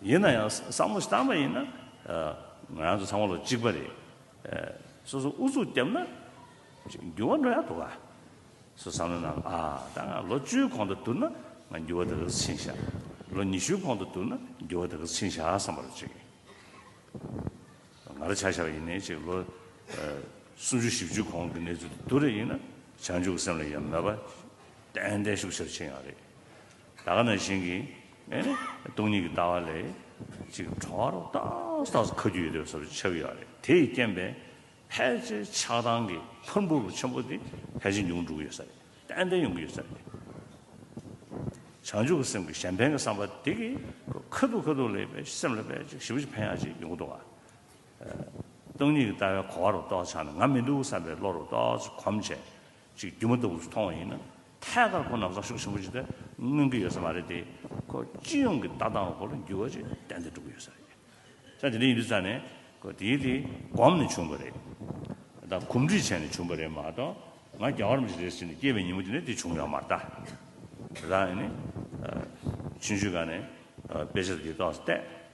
ཡིན་ན་ཡང་བསམ་བློ་བཏང་པ་ཡིན་ན། ང་རང་ཚོ་ཚང་མ་བློ་གཅིག་པ་རེད། སོ་སོ་ཨུ་ཚུགས་བརྒྱབ་ན། འགྱུར་བ་འགྲོ་ཡག་འདུག་ག། སོ་བསམ་བློ་གནང་ཨ། ད་ང་ལོ་བཅུའི་གོང་དུ་བསྡུར་ན་ང་འགྱུར་བ་དེ་ག་ཚོད་ཕྱིན་ཤག། ལོ་ཉི་ཤུའི་གོང་དུ་བསྡུར་ན་འགྱུར་བ་དེ་ག་ཚོད་ཕྱིན་ཤག་བསམ་པར་བྱེད་ཀྱི། ང་རང་བྱ་ཤག་ཡིན་ནའི་ཅིག་ལོ། སུམ་ཅུ་བཞི་བཅུའི་གོང་གི་གནས་ཚུལ་དུ་བསྡུར་རེ་ཡིན་ན་བྱང་ཆུབ་སེམས་ལ་ཡ་མེད་པ། ཏན་ཏན་ཤུགས་ཆེར་ཕྱིན་ཡག་རེད། ད་ག་ན་བཞིན་གྱི་སྟོང་ཉིད་ཀྱི་ལྟ་བ་ལས་ཅིག་གྲོལ་བ་རོ་ཏག་ཏག་ཏུ་ཁ་རྒྱུ་ཡོད་དོ་ཞེས་པ་ཆགས་ཀྱི་ཡོད་རེད་དེས་རྐྱེན་པས་ཕལ་ཆེར་ཆགས་སྡང་གི་ཕུར་འབུ་རུ་ཆེན་པོ་དེ་ཕལ་ཆེར་མྱོང་འགྲོ་གི་ཡོད་ས་རེད་ཏན་ཏན་ཡོང་གི་ཡོད་ས་རེད། བྱང་ཆུབ་ཀྱི་སེམས་ཀྱི་གཞན་ཕན་གྱི་བསམ་པ་དེ་གི་ཁ་ཐུག་ཁ་ཐུག་ལས་སེམས་ལ་ཕལ་ཆེར་ཞིབ་ཕྱིར་ཕན་ཡག་ཅིག་ཡོང་གི་འདུག་བ། སྟོང་ཉིད་ཀྱི་ལྟ་བའི་གོ་བ་རོ་ཏོག་ཆགས་ནས་ང་མི་འདུག་བསམ་པའི་བློ་རོ་ཏོག་གོམས་བྱས་ཅིག་སྒྱུ་མ་ལྟ་བུ་མཐོང་བ་ཡིན་ན་ཐད་ཀར་ཁོ་རྣམས་རང་ཤུགས་ཆེན་པོ་བྱས་ཏེ་མངོན་གྱི་ཡོད་ས་མ་རེད་དེ། ཁོ་སྤྱི་ཡོངས་ཀྱི་ལྟ་སྟངས་སྐོར་ལ་འགྱུར་བ་ཅིག་ཏན་ཏན་འགྲོ་གི་ཡོད་ས་རེད། ས་དེ་འདྲ་ཡིན་དུས་ཚར་ནས་ཁོ་དེའི་དེ་གོམས་ནས་བྱུང་བ་རེད་དམ་གོམས་འདྲིས་བྱས་ནས་བྱུང་བ་རེད་མ་གཏོགས་ང་རྒྱ་གར་མི་ཞིག་རེད་ཟེར་ནས་སྐྱེས་པའི་ཉིན་མོ་དེ་ནས་དེ་བྱུང་ཡོད་མ་རེད་ད། རང་ཡིན་ནས་ཆུང་ཆུང་ག་ནས་དཔེ་ཆ་དེ་གཏོགས་སྟེ།